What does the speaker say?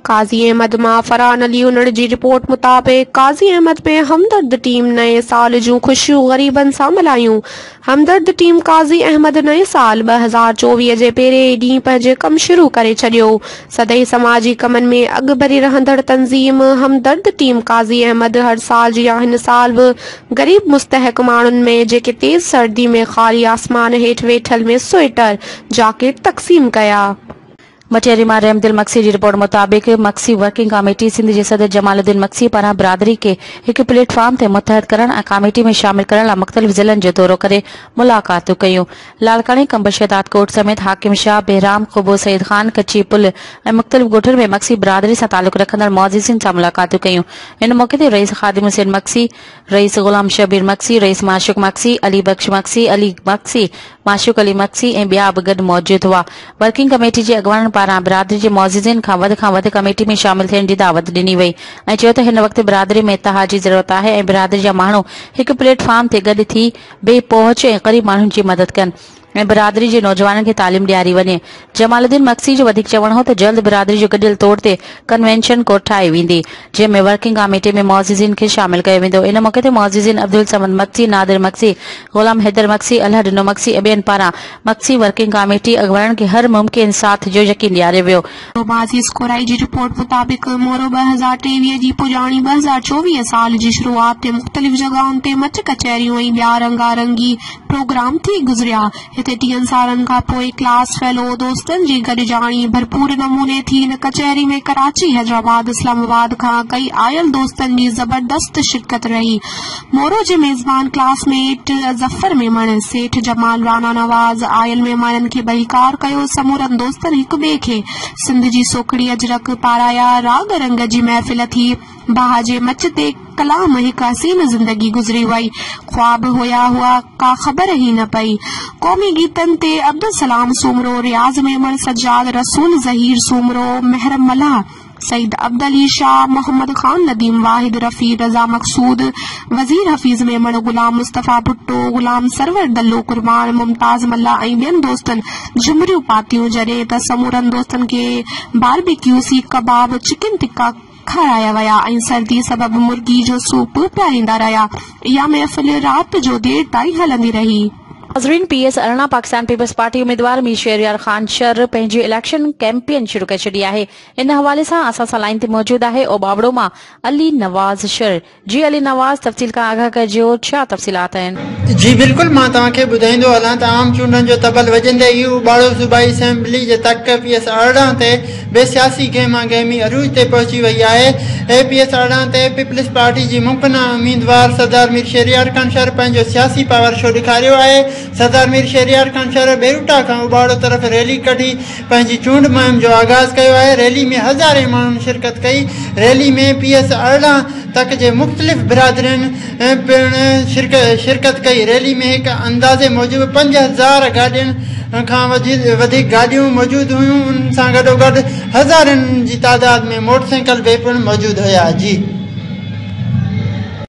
قاضي احمد مان فرحان علي انڙ جي رپورٽ مطابق قاضي احمد ۾ همدرد ٽيم نئين سال جون خوشيون غريبن سان ملهايون همدرد ٽيم قاضي احمد نئين سال ٻه هزار چوويهه جي پهرين ئي ڏينهن پنهنجي ڪم شروع ڪري ڇڏيو سدائين سماجي ڪمن ۾ اڳڀري رهندڙ تنظيم همدرد ٽيم قاضي احمد هر سال جيان هن سال به غريب مستحق ماڻهن ۾ جيڪي تيز سردي ۾ خالي آسمان هيٺ ويٺل ۾ سوئيٽر جاڪيٽ تقسيم ڪيا. مٽياري مان رحمدل مگسي جي رپورٽ مطابق مگسي ورڪنگ ڪاميٽي سنڌ جي صدر جمال الدين مگسي پاران برادري کي هڪ پليٽ فارم تي متحد ڪرڻ ۽ ڪاميٽي ۾ شامل ڪرڻ لاء مختلف ضلعن جو دورو ڪري ملاقاتون ڪيون لاڙڪاڻي قمبر شهداد ڪوٽ سميت حاڪم شاهه بهرام قبو سيد خان ڪچي پل ۽ مختلف ڳوٺن ۾ مگسي برادري سان تعلق رکندڙ معززين سان ملاقاتون ڪيون ان موقعي تي رئيس خادم حسين مگسي رئيس غلام شبير مگسي، رئيس معشوق مگسي، علي بخش مگسي، علي مگسي، معشوق علي مگسي ۽ ٻيا به گڏ موجود هئا. ورڪنگ ڪميٽي جي اڳواڻن پاران برادري جي معززين کان وڌ کان وڌ ڪميٽي ۾ شامل ٿيڻ جي دعوت ڏني وئي ۽ چيو ته هن وقت برادري ۾ اتحاد جي ضرورت آهي ۽ برادري جا ماڻهو هڪ پليٽ فارم تي گڏ ٿي بي پهچ ۽ غريب ماڻهن جي مدد ڪن. ۽ برادري جي نوجوانن کي تعليم ڏياري وڃي. جمال الدين مگسي جو وڌيڪ چوڻ هو ته جلد برادري جو گڏيل طور تي ڪنوينشن ڪوٺائي ويندي، جنهن ۾ ورڪنگ ڪاميٽي ۾ معززين کي شامل ڪيو ويندو. ان موقعي تي معززين عبدالصمد مگسي، نادر مگسي، غلام حيدر مگسي، الهه ڏنو مگسي ۽ ٻين پاران مگسي ورڪنگ ڪاميٽي اڳواڻن کي هر ممڪن ساٿ جو يقين ڏياريو ويو. شهباز يسڪورائي جي رپورٽ مطابق مورو ٻه هزار ٽيويهه جي پڄاڻي ٻه هزار چوويهه سال جي شروعات تي مختلف جڳهن تي مچ ڪچهريون ۽ ٻيا رنگا رنگي پروگرام ٿي گذريا هتي ٽيهن سالن کان پوء ڪلاس فيلو دوستن جي گڏجاڻي ڀرپور نموني ٿي ان ڪچهري ۾ ڪراچي حيدرآباد اسلام آباد کان ڪئي آيل دوستن جي زبردست شرڪت رهي مورو جي ميزبان ڪلاس ميٽ ظفر ميمڻ، سيٺ جمال، رانا نواز، آيل مهمانن کي ڀليڪار ڪيو، سمورن دوستن هڪ ٻئي کي سنڌ جي سوکڙي اجرڪ پارايا، راڳ رنگ جي محفل ٿي، باهه جي مچ تي ڪلام هڪ حسين زندگي گذري وئي، خواب هيا هئا ڪا خبر ئي نه پئي، قومي گيتن تي عبدالسلام سومرو، رياض ميمڻ، سجاد رسول، ظهير سومرو، محرم ملاح، سيد عبدعلي شاهه، محمد خان نديم، واحد رفيع، رضا مقصود، وزير حفيظ ميمڻ، غلام مصطفيٰ ڀٽو، غلام سرور دلو قربان، ممتاز ملاح ۽ ٻين دوستن جهمريون پاتيون، جڏهن ته سمورن دوستن کي باربيڪيو سيخ ڪباب، چڪن ٽڪا کارايا ويا ۽ سردي سبب مرغي جو سوپ پياريندا رهيا. اها محفل رات جو دير تائين هلندي رهي. ناظرين پي ايس ارڙهن پاڪستان پيپلز پارٽي اميدوار مير شهريار خان شر پنهنجي اليڪشن ڪيمپين شروع ڪري ڇڏي آهي. ان حوالي سان اسان سان لائين تي موجود آهي اوٻاوڙو مان علي نواز شر. جي علي نواز تفصيل کان آگاهه ڪجيو ڇا تفصيلات آهن. جي بلڪل مان توهان کي ٻڌائيندو هلان ته عام چونڊن جو تبل وڄندي ئي اوٻاڙو صوبائي اسيمبلي جي تڪ پي ايس ارڙهن تي به سياسي گهمه گهمي عروج تي پهچي وئي آهي اي پي ايس ارڙهن تي پيپلز پارٽي جي ممڪنه اميدوار سردار مير شهريار خان شر پنهنجو سياسي پاور شو ڏيکاريو آهي سردار مير شهريار خان شر ٻيروٽا کان اوٻاڙو طرف ريلي ڪڍي پنهنجي چونڊ مهم جو آغاز ڪيو آهي ريلي ۾ هزارين ماڻهن شرڪت ڪئي ريلي ۾ پي ايس ارڙهن تڪ جي مختلف برادرين پڻ شرڪت ڪئي ريلي ۾ هڪ اندازي موجب پنج هزار گاڏين کان وڌيڪ گاڏيون موجود هيون ان سان گڏوگڏ هزارين جي تعداد ۾ موٽرسائيڪل به پڻ موجود هيا